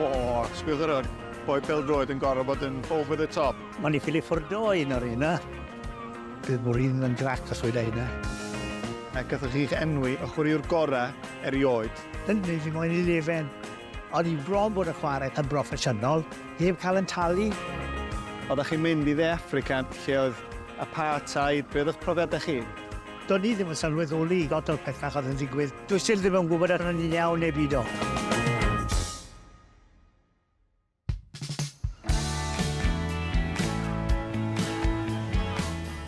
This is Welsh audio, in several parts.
O, sbwylwch yr hwn. Boi pel-droed yn gorfod bod yn over the top. Mae'n i ffili ffwrdo un o'r un, eh? Bydd mor un yn grac os oedd ein A gathoch chi'ch enwi y chwaraewr gorau erioed. Yn gwneud i moyn i lefen. Ond i bron bod y chwarae yn broffesiynol, heb cael yn talu. Oeddech chi'n mynd i dde Africa lle oedd apartheid, beth oedd profiadau chi? Do'n i ddim yn sylweddoli lot o'r pethau oedd yn digwydd. Dwi still ddim yn gwybod os o'n i'n iawn neu beidio.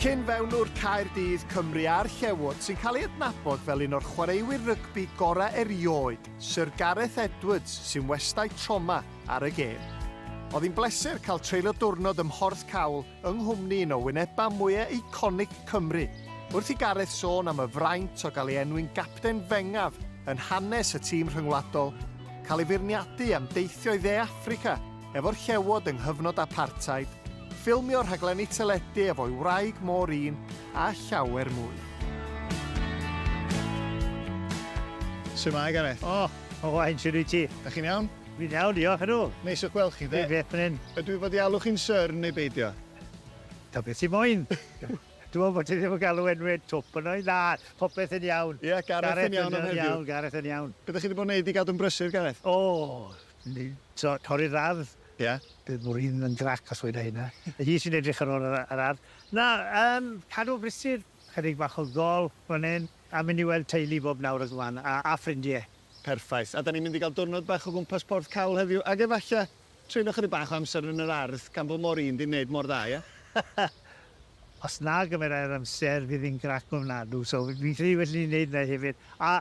Cyn-fewnwr Caerdydd, Cymru a'r Llewod sy'n cael ei adnabod fel un o'r chwaraewyr rygbi gorau erioed, Sir Gareth Edwards, sy'n westai troma ar y gêm. Oedd hi'n bleser cael treulio diwrnod ym Mhorth Cawl yng nghwmni un o wynebau mwyaf eiconig Cymru, wrth i Gareth sôn am y fraint o gael ei enwi'n gapten fengaf yn hanes y tîm rhyngwladol, cael ei feirniadu am deithio i Dde Affrica efo'r Llewod yng nghyfnod apartheid, ffilmio rhaglenni teledu efo'i wraig Maureen a llawer mwy. Su'mae Gareth? O! Owain, shwt wyt ti? Dach chi'n iawn? Dwi'n iawn, diolch, ydw. Neis o'ch gweld chi, dde. Dwi grêt fan hyn. Ydw i fod i alw chi'n Sir neu beidio? Ta beth ti moyn. Dw i'n gwybod bod ti ddim yn galw enwau twp yno i. Na, popeth yn iawn. Ie, Gareth yn iawn am heddiw. Gareth yn iawn, Gareth yn iawn. Be dych chi 'di bod yn neud i gadw'n brysur, Gareth? O! Ni- so, torri'r ardd. Ie. Bydd Maureen yn grac os weda i hynna. Hi sy'n edrych ar ôl yr yr ardd. Na, yym, cadw brysur, chydig bach o gôl fan hyn, a mynd i weld teulu bob nawr ac fan, a a ffrindie. Perffaith. A 'dan ni'n mynd i gael diwrnod bach o gwmpas Porth Cawl heddiw, ac efallai treulio chydig bach o amser yn yr ardd, gan fo mor un 'di neud mor dda, ie? Os na gymerai'r amser, fydd hi'n grac ofnadw, so fi'n credu well i ni neud 'na hefyd. A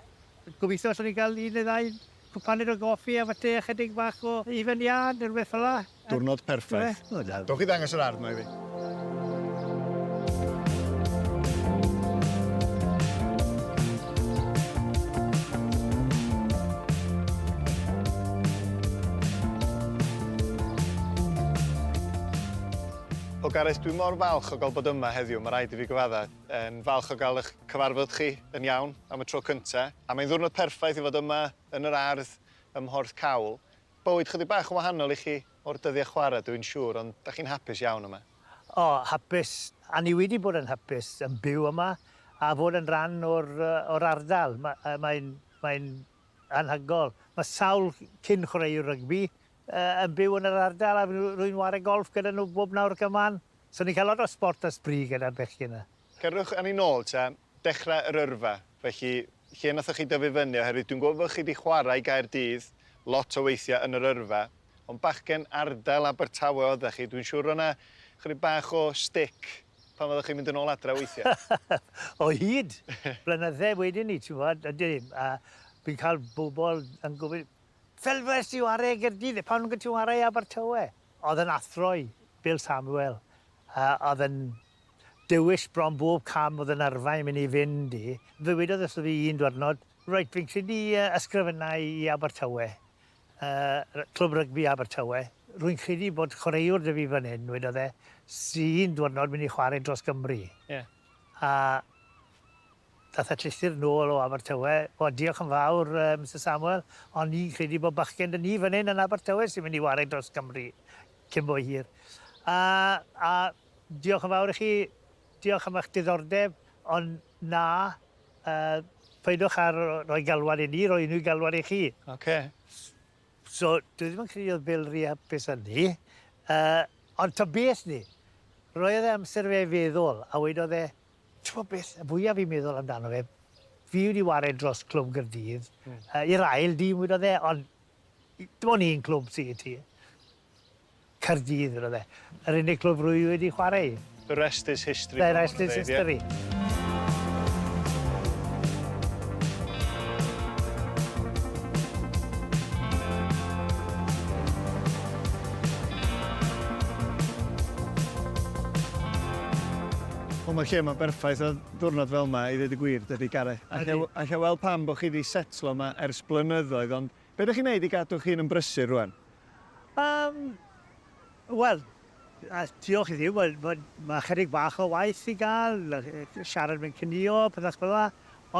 gobeithio allwn ni gael un neu ddau cwpaned o goffi a fate a chydig bach o hufen iâ ne' rwbeth fel'a. Diwrnod perffaith. Dewch i ddangos yr ardd mae fi. O Gareth, dwi mor falch o gael bod yma heddiw, mae rhaid i fi gyfadda. Yn falch o gael eich cyfarfod chi yn iawn am y tro cyntaf. A mae'n ddwrnod perffaith i fod yma yn yr ardd ym Mhorth Cawl. Bywyd chydig bach yn wahanol i chi o'r dyddiau chwarae dw i'n siŵr, ond dach chi'n hapus iawn yma? O, hapus. A ni wedi bod yn hapus yn byw yma a fod yn rhan o'r o'r ardal. Ma- yy mae'n mae'n anhygoel. Ma' sawl cyn chwaraewr rygbi yy yn byw yn yr ardal a rwy'n ware golff gyda nhw bob nawr ac y man. So ni'n cael lot o sport a sbri gyda'r bechgyn 'na. Cerwch â ni nôl ta, dechrau yr yrfa, felly, lle nathoch chi dyfu fyny, oherwydd dwi'n gwybod bod chi 'di chwarae i Gaerdydd lot o weithiau yn yr yrfa, ond bachgen ardal Abertawe oeddach chi, dwi'n siŵr o' 'na chydig bach o stick pan oeddach chi'n mynd yn ôl adre weithiau. O hyd! Blynydde wedyn 'ny, ti'n gwybod, ydy, a fi'n cael bobl yn gofyn, fel fues ti ware i Gaerdydd, pam nag wyt ti'n ware i Abertawe? Oedd yn athro i, Bill Samuel, a oedd yn Dewis bron bob cam oedd yn arfau am i ni fynd i. Ddywedodd wrtho fi un dwyrnod, Reit, fi'n credu y ysgrifennai i Abertawe, yy Clwb Rygbi Abertawe. Rwy'n credu bod chwaraewr 'da fi fan hyn, wedodd e, sy un dwyrnod mynd i chwarae dros Gymru. Ie. A daeth y llythyr nôl o Abertawe, O, diolch yn fawr, yy Mister Samuel, ond ni'n credu bod bachgen 'da ni fan hyn yn Abertawe sy'n mynd i warae dros Gymru cyn bo hir. A, a, Diolch yn fawr i chi. Diolch am eich diddordeb, ond na, peidiwch â rhoi galwad i ni, roi unrhyw galwad i chi. Ocê. So, dwi ddim yn credu oedd Bill rhy hapus â ni, ond ta beth 'ny, roedd e amser i fe feddwl, a wedodd e, T'mod beth, y fwyaf fi'n meddwl amdano fe, fi wedi ware dros Clwb Gaerdydd, i'r ail dîm wedodd e, ond dim ond un clwb sy i ti. Caerdydd iddo fe. Yr unig glwb rwy wedi chwarae i. The rest is history. The rest is history. Wel mae lle yma'n berffaith ar ddiwrnod fel yma i ddeud y gwir, debyg Gareth. Alla i weld pam bod chi wedi setlo yma ers blynyddoedd ond Be dych chi'n neud i gadw'ch hun yn brysur rwan? Yym, wel, a diolch i Dduw, wel, wel, ma' chydig bach o waith i ga'l, yy siarad mewn cynïo, pethach fel 'a,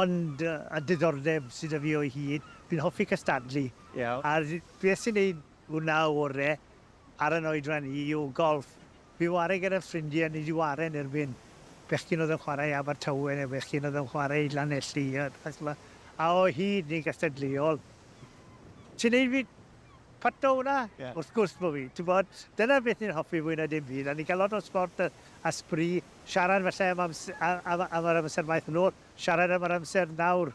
ond yy y diddordeb sy 'da fi o'i hyd, fi'n hoffi cystadlu. Iawn. A'r beth sy'n neud hwnna ore' ar 'yn oedran i yw golff. Bu ware gyda ffrindie yn Nid i Waren erbyn bechgyn oedd yn chwarae i Abertawe neu fechgyn oedd yn chwarae i Lanelli a peth fel 'na, a o hyd neu gystadleuol. Ti'n neud fi pato hwnna? Ie. Wrth gwrs bo' fi. T'bod, dyna beth ni'n hoffi fwy na dim byd, a ni'n ca'l lot o sbort a a sbri, siarad falle am ams- a- am y am yr amser maeth yn ôl, siarad am yr amser nawr,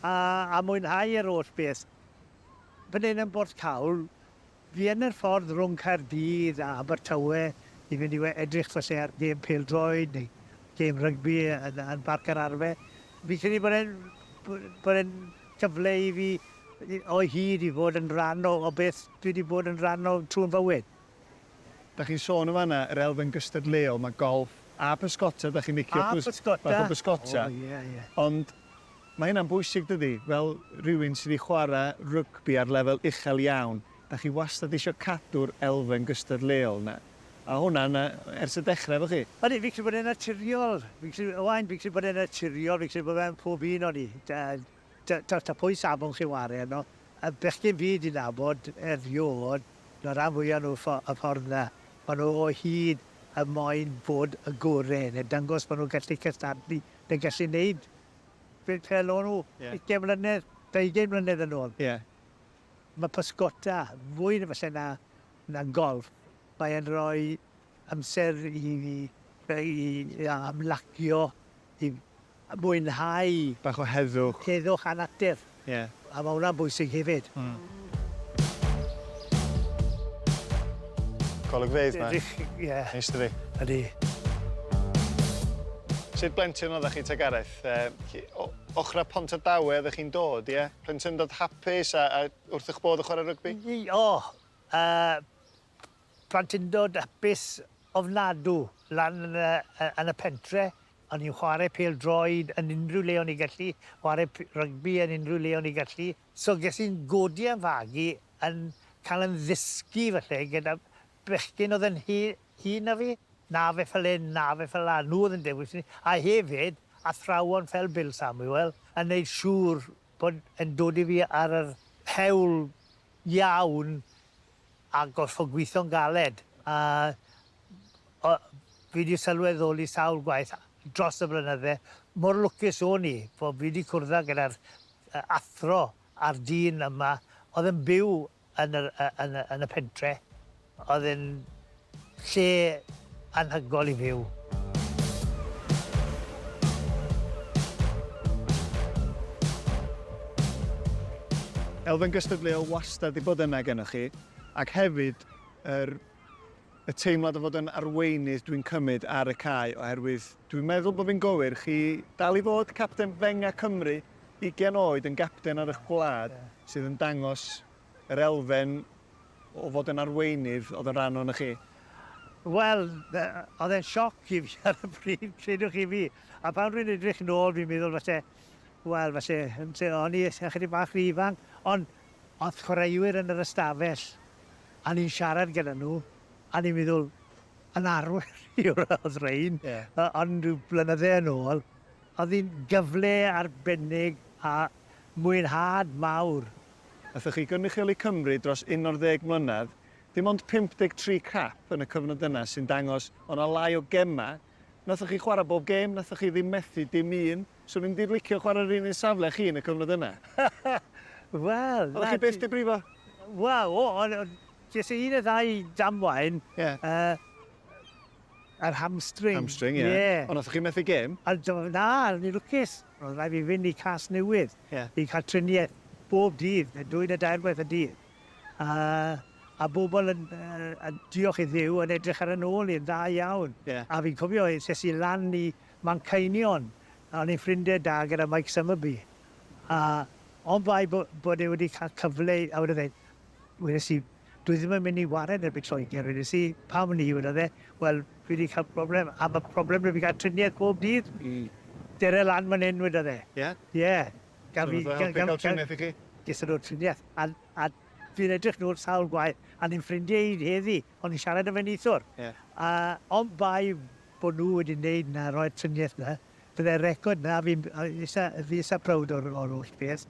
a a mwynhau yr holl beth. Bydd e'n yn bwrdd cawl. Fi yn yr ffordd rhwng Caerdydd a Abertawe i fynd i we- edrych falle ar gêm pêl-droed neu gêm rygbi yn yn Barc yr Arfe. Fi'n credu bod e'n b- bod e'n cyfle i fi i o hyd i fod yn rhan o o beth dwi 'di bod yn rhan o trw'n fywyd. Dach chi'n sôn yn fan'na yr elfen gystadleuol, ma' golff a pysgota dach chi'n licio... A pysgota. ...fath o bysgota. O ie ie. Ond Mae hynna'n bwysig dydi? Fel rhywun sydd wedi chwarae rygbi ar lefel uchel iawn, dach chi wastad eisiau cadw'r elfen gystadleuol 'na. A hwnna 'na ers y dechrau efo chi? Odi, fi'n credu bod e'n naturiol. Fi'n credu, Owain, fi'n credu bod e'n naturiol, fi'n credu bod fe'n pob un o ni. Tibod, ta pwy safon chi'n ware arno, y bechgyn fi 'di nabod erioed, y rhan fwya' o nhw, y ffordd 'na. Maen nhw o hyd yn moyn bod y gore', neu dangos bod nhw'n gallu cystadlu, neu gallu neud Fi'n treialo nhw ugain mlynedd, deugain mlynedd yn ôl. Ie. Mae pysgota fwy na falle na, na golff. Mae e'n rhoi amser i fi i i ymlacio, i mwynhau... Bach o heddwch. Heddwch a natur. Ie. A mae hwnna'n bwysig hefyd. Mm. Golygfeydd mae. Ydych, ie. Neis dydi? Ydy. Sut blentyn oeddech chi te Gareth? Yy o ochrau Pontardawe oeddech chi'n dod, ie? Plentyndod hapus a a wrth eich bodd yn chwarae rygbi? Y o! Yy plentyndod hapus ofnadw lan yn y yy yn y pentre. Ond ni'n chwarae pêl droed yn unrhyw le o'n ni'n gallu, chwarae p- rygbi yn unrhyw le o'n ni'n gallu. So ges i'n godi a'n fagu yn cael yn ddysgu falle gyda bechgyn oedd yn he- hŷn na fi. Na fe fel hyn, na fe fel 'na. Nhw oedd yn dewis i ni. A hefyd, athrawon fel Bill Samuel yn wneud siŵr bod e'n dod i fi ar yr hewl iawn a gorfod gweithio'n galed a o- fi 'di sylweddoli sawl gwaith dros y blynydde mor lwcus o'n i bo' fi 'di cwrdda gyda'r yy athro a'r dyn yma o'dd yn byw yn yr yy yn y yn y pentre o'dd e'n Lle anhygoel i fyw. Elfen gystadleuol wastad 'di bod yna gennoch chi, ac hefyd yr y teimlad o fod yn arweinydd dwi'n cymryd ar y cae oherwydd dwi'n meddwl bod fi'n gywir, chi dal i fod capten Fenga Cymru, ugain oed yn gapten ar eich gwlad, sydd yn dangos yr elfen o fod yn arweinydd oedd yn rhan ohonoch chi? Wel, oedd e'n sioc i fi ar y pryd, credwch chi fi. A pan rwy'n edrych nôl, fi'n meddwl falle, wel, falle, o'n i ychydig bach rhy ifanc, ond oedd chwaraewyr yn yr ystafell, a ni'n siarad gyda nhw, a ni'n meddwl, yn arwyr yw'r oedd rhain, yeah. ond rhyw blynyddau yn ôl, oedd hi'n gyfle arbennig a mwynhad mawr Allwch chi gynrychioli Cymru dros unarddeg mlynedd, dim ond 53 cap yn y cyfnod yna sy'n dangos o' 'na lai o gemau, nathoch chi chwarae bob gêm, nathoch chi ddim methu dim un, so fi'n mynd i licio chwarae yr un un safle â chi yn y cyfnod yna. Wel, 'na ti. O'ch chi byth 'di brifo? Wel, o, o, o, ges i un neu ddau damwain. Ie. Yy, yr hamstring. Hamstring, ie. Ie. Ond nathoch chi methu gêm? Ond, na, o'n i'n lwcus. Roedd rhaid fi fynd i Casnewydd... Ie. ...i cael triniaeth bob dydd, neu dwy neu dair gwaith y dydd. A a bobl yn yy yn diolch i Dduw yn edrych ar 'y nôl i yn dda iawn. Ie. A fi'n cofio es es i lan i Manceinion, a o'n i'n ffrindie da gyda Mike Summerbee, a on' bai bo- bod e wedi ca'l cyfle i a wedodd e, wedes i, Dwi ddim yn mynd i waren erbyn Lloegr, wedes i. Pam ni? wedodd e. Wel, fi 'di cael problem, a ma' problem 'da fi gael triniaeth bob dydd. Mm. Cer â lan man 'yn, wedodd e. Ie? Ie. Gaf fi... So nath e helpu ca'l triniaeth i chi? Ges i lot o triniaeth, a a fi'n edrych nôl sawl gwaith, a ni'n ffrindie hyd heddi, o'n i'n siarad 'da fe neithiwr. Ie. A ond bai bo' nhw wedi neud 'na, roi'r triniaeth 'na, Byddai'r record 'na, fi'n eitha, fi eitha proud o'r o'r holl beth,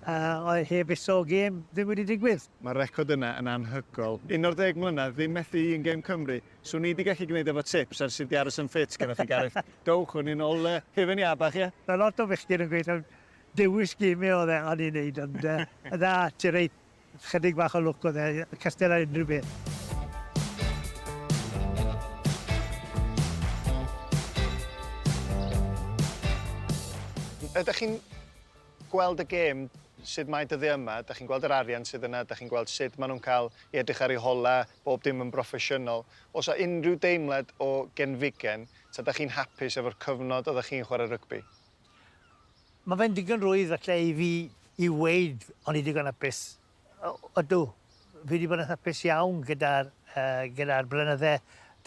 yy heb iso gêm ddim wedi digwydd. Mae'r record yna yn anhygoel. Un o'r deg mlynedd, ddim methu un gêm Cymru. Swn i 'di gallu gwneud efo tips ers i di aros yn ffit gyda chi Gareth. Dowch â ni nôl yy hufen iâ bach ie? Mae lot o fechgyn yn gweud taw dewis geme oedd e o'n i'n neud ond yy na ti reit. Chydig bach o lwc oedd e, castell ar unrhyw beth. Ydych chi'n gweld y gêm sut mae dyddiau yma, da chi'n gweld yr arian sydd yna, da chi'n gweld sut maen nhw'n cael i edrych ar ei hola, bob dim yn broffesiynol. Os a unrhyw deimlad o genfigen, ta da chi'n hapus efo'r cyfnod oeddech chi'n chwarae rygbi? Mae fe'n digon rwydd falle i fi i weud o'n i digon hapus. Ydw, fi wedi bod yn hapus iawn gyda'r yy gyda'r blynydde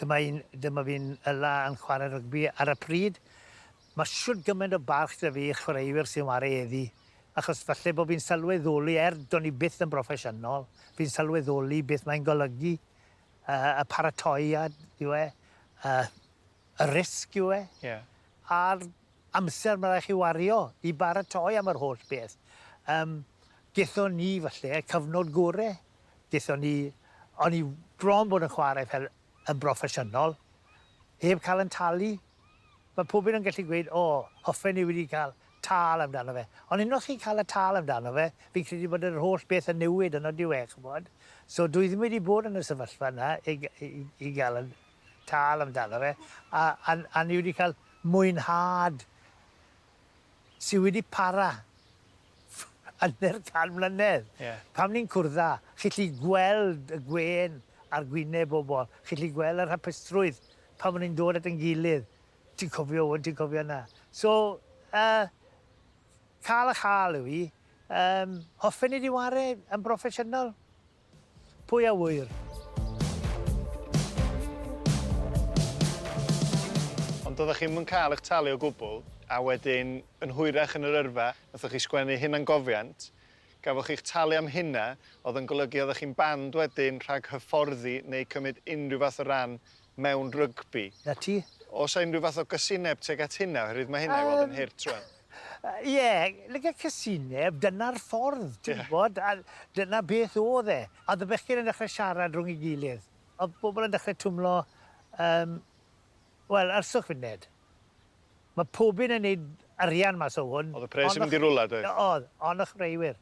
dyma i'n dyma fi'n yla yn chwarae rygbi ar y pryd. Mae shwt gymaint o barch 'da fi i'r chwaraewyr sy'n whare heddi achos falle bod fi'n sylweddoli er do'n i byth yn broffesiynol fi'n sylweddoli beth mae'n golygu yy y paratoiad yw e yy y risg yw e. Ie. a'r amser mae'n rhaid i chi wario i baratoi am yr holl beth. Yym, gethon ni falle y cyfnod gore. Gethon ni... O'n i bron bod yn chwarae fel yn broffesiynol, heb cael yn talu. Mae pob un yn gallu gweud, 'O, hoffen ni wedi cael tâl amdano fe. Ond unwaith chi'n cael y tâl amdano fe, fi'n credu bod yr holl beth yn newid, yn odyw e, ch'mod? So dwi ddim wedi bod yn y sefyllfa 'na i i i gael y tal amdano fe a a a ni wedi cael mwynhad sy wedi para hanner can mlynedd. Ie. Pan ni'n cwrdd â, chi'n gallu gweld y gwên ar gwyneb bobl, chi'n gallu gweld yr hapusrwydd pan ma' ni'n dod at ein gilydd, ti'n cofio 'wn, ti'n cofio 'na. So, yy, ca'l a châl yw 'i. Yym, hoffen i di ware yn broffesiynol? Pwy a ŵyr? Ond doeddech chi'm yn cael eich talu o gwbl, a wedyn, yn hwyrach yn yr yrfa, nathoch chi sgwennu hunangofiant, gafoch chi'ch talu am hynna, oedd yn golygu oeddech chi'n banned wedyn rhag hyfforddi neu cymryd unrhyw fath o ran mewn rygbi. 'Na ti. Oes 'na unrhyw fath o gysineb tuag at hynna, oherwydd mae hynna i weld yn hurt rŵan? Ie, like casineb, dyna'r ffordd, ti'n gwybod, a dyna beth oedd e. A oedd y bechgyn yn dechrau siarad rhwng ei gilydd. Oedd pobl yn dechrau twmlo, yym, wel, arswch funed. Mae pob un yn wneud arian mas o hwn. Oedd y pres yn mynd i rwla, doedd? Oedd, ond y chwaraewyr.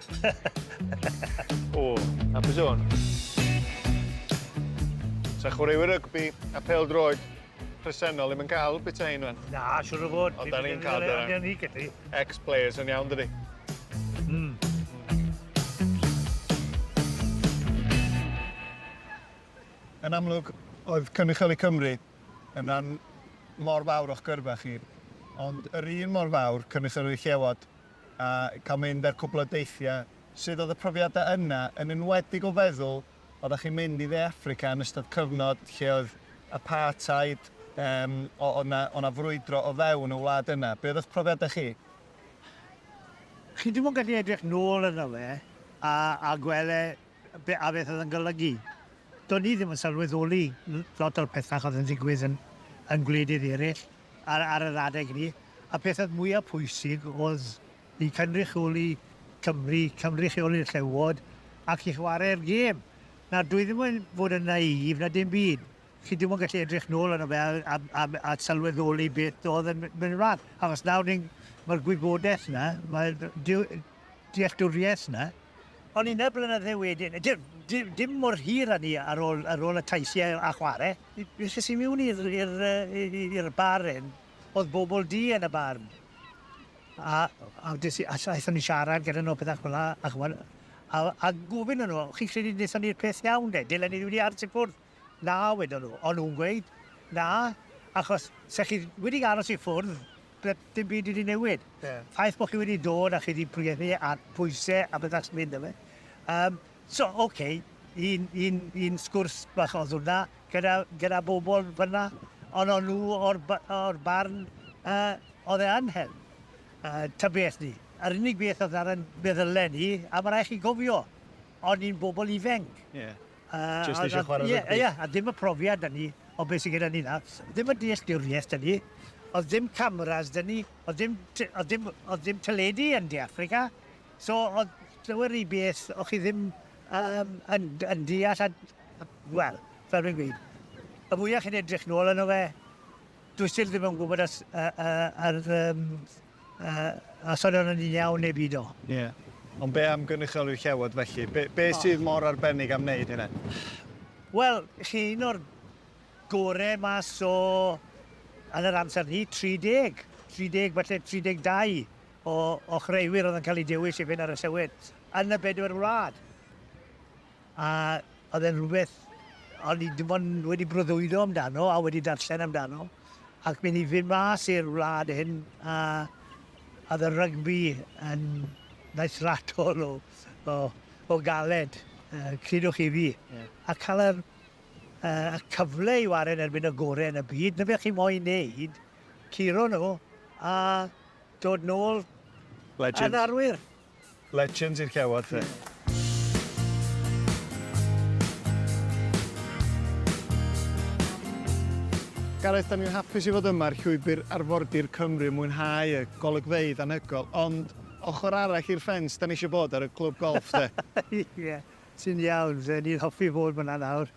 o, hapus iawn. Sa chwaraewyr rygbi a pêl-droed presennol ddim yn cael bita hyn fan. Na, siwr o fod. Ond da ni'n cael dyna. Ond ni gyda. Ex-players yn iawn dydy. Mm. Yn amlwg, oedd Cynrychioli Cymru yn rhan mor fawr o'ch gyrfa chi, ond yr un mor fawr Cynrychioli Llewod a cael mynd ar cwpl o deithiau, sut oedd y profiadau yna, yn enwedig o feddwl, oeddach chi'n mynd i Dde Affrica yn ystod cyfnod lle oedd apartheid, yym, o- oedd 'na, oedd 'na frwydro o fewn y wlad yna, be oedd eich profiadau chi? Chi ddim yn gallu edrych nôl arno fe a, a gweld e Be a beth oedd yn golygu. Do'n i ddim yn sylweddoli lot o'r pethau oedd yn digwydd yn yn gwledydd eraill ar ar yr adeg hynny. Y peth oedd mwyaf pwysig oedd i cynrychioli Cymru, cynrychioli'r Llewod ac i chwarae'r gêm. Nawr, dwi ddim yn fod yn naïf na dim byd. Chi ddim yn gallu edrych nôl arno fe a, a, a, a sylweddoli beth oedd yn mynd ymlaen. Achos nawr ni'n... Mae'r gwybodaeth yna, mae... dealltwriaeth 'na. Ond un ar blynydde wedyn, dim dim dim mor hir â 'ny ar ôl ar ôl y taithie a chware, es i miwn i'r i'r yy i'r bar 'yn, o'dd bobol du yn y bar, a a des i a s- aethon ni siarad gyda nw a pethe fela a ch'mod a a gofyn i nw, chi'n credu nethon ni'r peth iawn 'de, dylen ni wedi aros i ffwrdd? Na, wedon nhw, o'n nhw'n gweud. Na, achos 'se chi wedi aros i ffwrdd, ble dim byd wedi newid. Ie. Ffaith bod chi wedi dod a chi wedi pwriadu ar pwyse a bydda chi'n mynd yfe. Um, so, ok, un, un, un sgwrs bach oedd hwnna gyda, gyda bobl fyna, ond o'n nhw o'r, or barn uh, oedd e yn hel. Uh, ta beth ni. Yr unig beth oedd ar yn meddylen ni, a mae rhaid chi gofio, o'n ni'n bobl ifenc. Yeah. Jyst eisiau chwarae rygbi? Ie, ie, a ddim y profiad 'da ni o beth sydd gyda ni nawr. Ddim y dealltwriaeth 'da ni. Oedd ddim cameras 'da ni. Oedd ddim t- oedd ddim oedd ddim teledu yn De Affrica. So oedd llawer rhy beth o' chi ddim um, yn, yn deall a, wel, fel fi'n gweud, y fwyaf chi'n edrych nôl yno fe, dwi still ddim yn gwybod as, uh, uh, ar um, a sori os ydyn iawn neu beidio. Ie. Ond be am gynrychioli'r Llewod felly? Be, be sydd mor arbennig am wneud hynna? Wel, chi un o'r gore mas o yn yr amser ni, 30, 30, falle 32 o, o chreuwyr oedd yn cael eu dewis i fynd ar y Llewod yn y bedwar wlad. A oedd e'n rhywbeth o'n i dim ond wedi breuddwydo amdano a wedi darllen amdano ac myn' i fyn' mas i'r wlad hyn a a o'dd y rygbi yn naill raddol o o o galed yy credwch chi fi. Ie. A ca'l yr yy y cyfle i ware yn erbyn y gore yn y byd 'na be' chi moyn neud, curo nw a dod nôl... Legend. ...yn arwyr. Legends i'r cewod te. Gareth, 'da ni'n hapus i fod yma ar Llwybr Arfordir Cymru yn mwynhau y golygfeydd anhygoel, ond ochr arall i'r ffens, 'da ni eisiau bod ar y clwb golff de! Ie, ti'n iawn, ni'n hoffi bod fan'na nawr.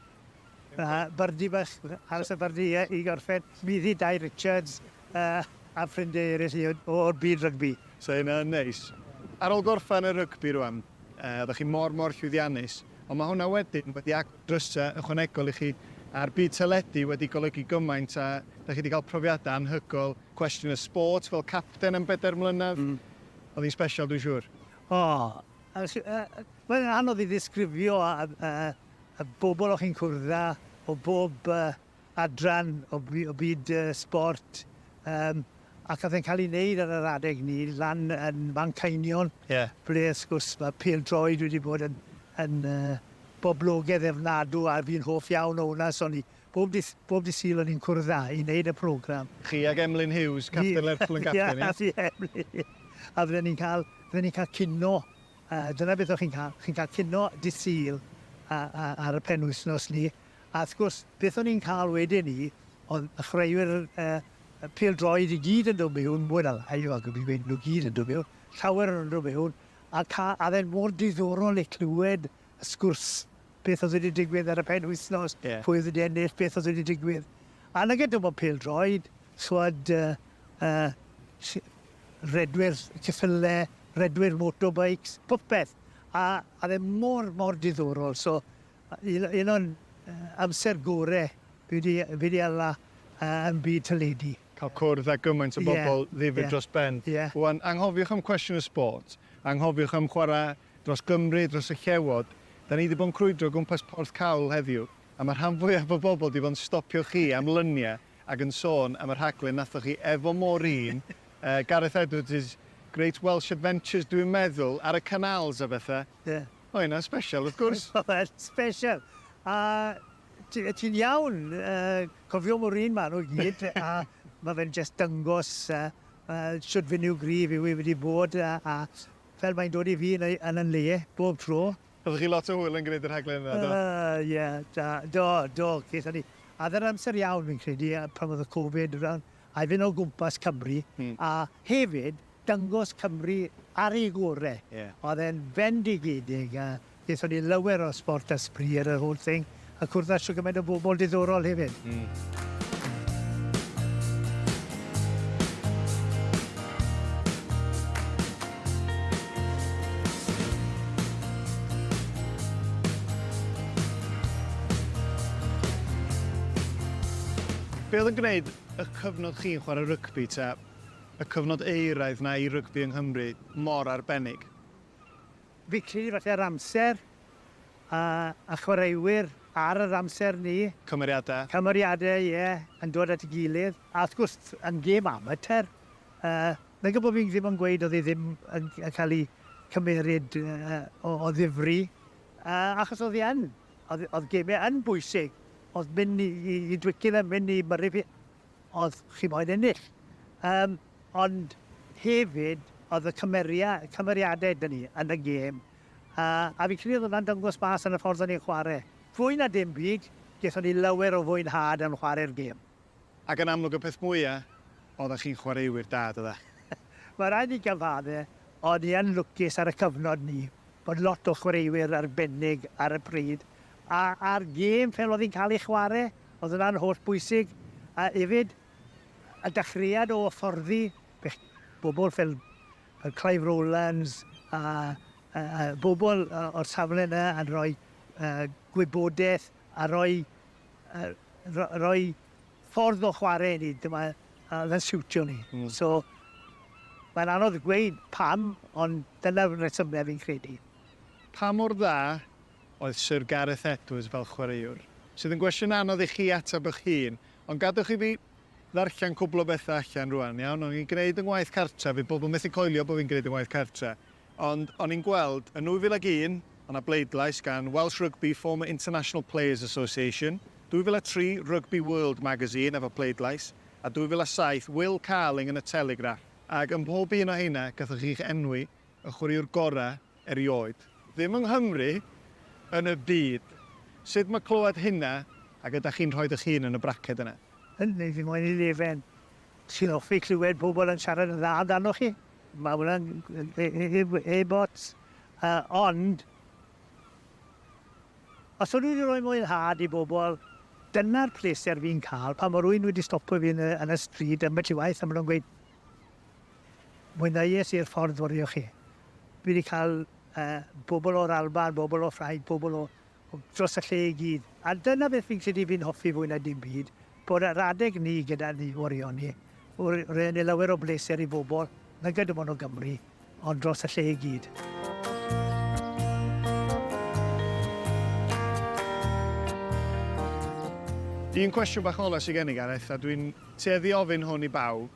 A bardi bach, aros a bardi ie i gorffen. Mi ddi Dai Richards a a ffrindie eryll i o o'r byd rygbi. So hynna yn neis. Ar ol gorffan y rygbi rwan yy oddech chi mor mor llwyddiannus ond ma hwnna wedyn wedi agor drysa ychwanegol i chi a'r byd teledu wedi golygu gymaint a dach chi di cael profiada anhygoel. Cwestiwn y sport, fel capten am bedair mlynedd, oedd hi'n special dwi'n siŵr? O! Mae'n anodd i ddisgrifio a yy y bobl o'ch chi'n cwrdd â o bob adran o byd y sbort, yym ac o'dd e'n cael ei wneud ar yr adeg 'ny lan yn Manceinion... Ie. ...ble wrth gwrs ma' pêl-droed wedi bod yn yn yy boblogedd ofnadw a fi'n hoff iawn o hwnna so o'n i bob dydd bob dydd Sul o'n i'n cwrdd â i wneud y programme. Chi ag Emlyn Hughes, capten Lerpwl yn Gapten, ie? Ie, fi a Emlyn, a fydden ni'n cael fydden ni'n cael cinio A dyna beth o'ch chi'n cael, chi'n cael cino dydd Sul a- a- ar y penwythnos 'ny. A wrth gwrs, beth o'n ni'n cael wedyn 'ny o'dd y chwaraewyr yy y pêl-droed i gyd yn do' miwn, mwy na lai, wel dwi'm yn gweud nw gyd yn do' miwn, llawer o nw'n do' miwn, a ca- a o'dd e'n mor diddorol i clywed y sgwrs, beth o'dd wedi digwydd ar y penwythnos... Ie. ...pwy o'dd wedi ennill, beth o'dd wedi digwydd. A nage dim ond pêl-droed, Sgwad rhedwyr ceffylau, rhedwyr motorbikes, popeth. A oedd e mor, mor diddorol. So, un o'n amser gorau fi 'di, fi 'di hala yn byd teledu. Cael cwrdd â gymaint o bobl ddifyr dros ben. Wan, anghofiwch am cwestiwn y sport, anghofiwch am chwarae dros Gymru, dros y Llewod. Da ni 'di bod yn crwydro o gwmpas Porth Cawl heddiw, a mae rhan fwyaf o bobl 'di bod yn stopio chi am lyniau Ac yn sôn am y rhaglen nathoch chi efo Maureen, yy Gareth Edwards' Great Welsh Adventures dwi'n meddwl, ar y canals a bethe. Ie. Oedd hynna'n sbesial wrth gwrs. Oedd, sbesial. A ti ti'n iawn, yy cofio Maureen ma' nhw i gyd a ma' fe'n jyst dyngos yy yy shwd finiwgrif yw e wedi bod a a fel mae'n dod i fi yn ei yn 'yn le bob tro. Oeddech chi lot o hwyl yn gwneud y rhaglen yna, do? Yy, ie, da. Do, do, gaethon ni. A oedd e'n amser iawn, fi'n credu, yy, pan oedd y Covid yn rhan, a'i fynd o gwmpas Cymru, a hefyd dangos Cymru ar ei gore. Ie. Oedd e'n fendigedig, a gaethon ni lawer o sport a sbri ar yr holl thing. A cwrdd â shwt gymaint o bobl diddorol hefyd. Mm. Be oedd yn gwneud y cyfnod chi'n chwarae rygbi ta y cyfnod eiraidd na i rygbi yng Nghymru mor arbennig? Fici, falle yr amser, a a chwaraewyr ar yr amser 'ny. Cymeriadau. Cymeriadau, ie, yn dod at ei gilydd. A wrth gwrs, yn gêm amatur, yy, nag yw bo' fi ddim yn gweud o'dd e ddim yn c- yn ca'l 'i cymeryd yy o o ddifri, yy, achos o'dd 'i yn. O'dd o'dd geme yn bwysig. O'dd myn' i i i Twickenham, myn' i Murrayfield, o'dd chi moyn ennill. Yym, ond hefyd, o'dd y cymeria- cymeriade 'da ni yn y gêm. A a fi'n credu oedd hwnna'n dangos bas ar y ffordd o'n ni'n chwarae. Fwy na dim byd, gethon ni lawer o fwynhad yn chwarae'r gêm. Ac yn amlwg y peth mwya, oeddach chi'n chwaraewyr da, doeddach? Mae'n rhaid i gyfadde, o'n i yn lwcus ar y cyfnod 'ny, bod lot o chwaraewyr arbennig ar y pryd, a a'r gêm fel oedd hi'n cael ei chwarae, oedd hwnna'n holl bwysig, a hefyd y dechreuad o hyfforddi bobl fel Oedd Clive Rowlands a bobl o'r safle yna yn rhoi gwybodaeth a rhoi rhoi ffordd o chwarae i ni, dyma oedd yn siwtio ni. So mae'n anodd gweud pam ond dyna'r rhesymau fi'n credu. Pa mor dda oedd Sir Gareth Edwards fel chwaraewr? Sydd yn gwestiwn anodd i chi ateb eich hun, ond gadwch i fi ddarllen cwbl o bethe allan rŵan, iawn? O'n i'n gneud 'y ngwaith cartra, fydd pobl methu coelio bo' fi'n gneud 'y ngwaith cartra, ond o'n i'n gweld, yn 2001, o' 'na bleidlais gan Welsh Rugby Former International Players Association, 2003, Rugby World Magazine efo pleidlais, a 2007, Will Carling yn y Telegraph. Ac ym mhob un o heina, gathoch chi'ch enwi, y chwaraewr gora', erioed. Ddim yng Nghymru, yn y byd. Sut mae clywed hynna ac ydach chi'n rhoid eich hun yn y braced yna? Hynny ydi, mae'n elefen sy'n hoffi clywed pobl yn siarad yn dda amdanoch chi. Mae hwnna'n heb ots. Ond, os o'n i wedi rhoi mwynhad i bobl, dyna'r pleser fi'n cael, pan mae rhywun wedi stopio fi yn y stryd ambell i waith a maen nhw'n gweud, Mwynheuais i'r ffordd wrio chi. Dwi 'di cael bobl o'r Alban, bobl o Ffrainc, bobl o dros y lle i gyd. A dyna beth fi'n credu fi'n hoffi fwy na dim byd, bod yr adeg ni gyda ni wrio ni, roi lawer o bleser i bobl nag ydym ond o Gymru. ond dros y lle i gyd. Un cwestiwn bach ola sy gen i Gareth, a dwi'n tueddu i ofyn hwn i bawb,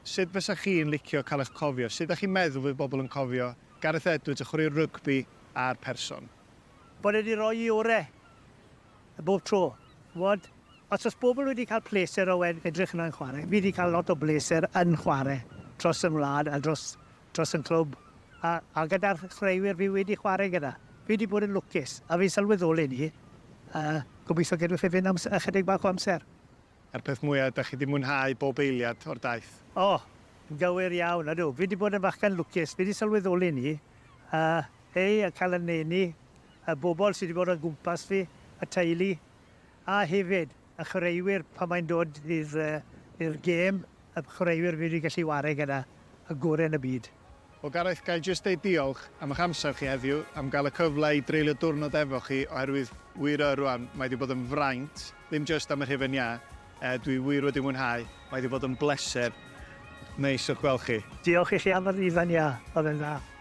sut fysa chi'n licio cael eich cofio? Sut dach chi'n meddwl fydd bobl yn cofio Gareth Edwards, y chwaraewr rygbi a'r person? Bod e 'di rhoi i ore'. bob tro. Ch'mod, os o's bobl wedi cael pleser o e- edrych yna yn chware, fi 'di cael lot o bleser yn chware dros fy ngwlad a dros dros fy nghlwb, a a gyda'r chwaraewyr fi wedi chware gyda. Fi 'di bod yn lwcus, a fi'n sylweddoli 'ny, a gobeithio gei di fy ffefryn am s- ychydig bach o amser. A'r peth mwya, da chi 'di mwynhau bob eiliad o'r daith? O! Yn gywir iawn. Ydw, fi 'di bod yn fachgen lwcus. Fi 'di sylweddoli 'ny. A, hei, a cael yn nheulu, y bobl sy 'di bod o'n gwmpas fi, y teulu, a hefyd y chwaraewyr pan mae'n dod i'r, yy, i'r gêm. y chwaraewyr wedi gallu ware gyda y gore yn y byd. O Gareth ga'i jyst deud diolch am ych amser chi heddiw, am gael y cyfle i dreulio diwrnod efo chi oherwydd wir yy rwan mae 'di bod yn fraint, ddim jyst am yr hufen iâ, yy dwi wir wedi mwynhau, mae 'di bod yn bleser neis o'ch gweld chi. Diolch i chi am yr hufen iâ, oedd e'n dda.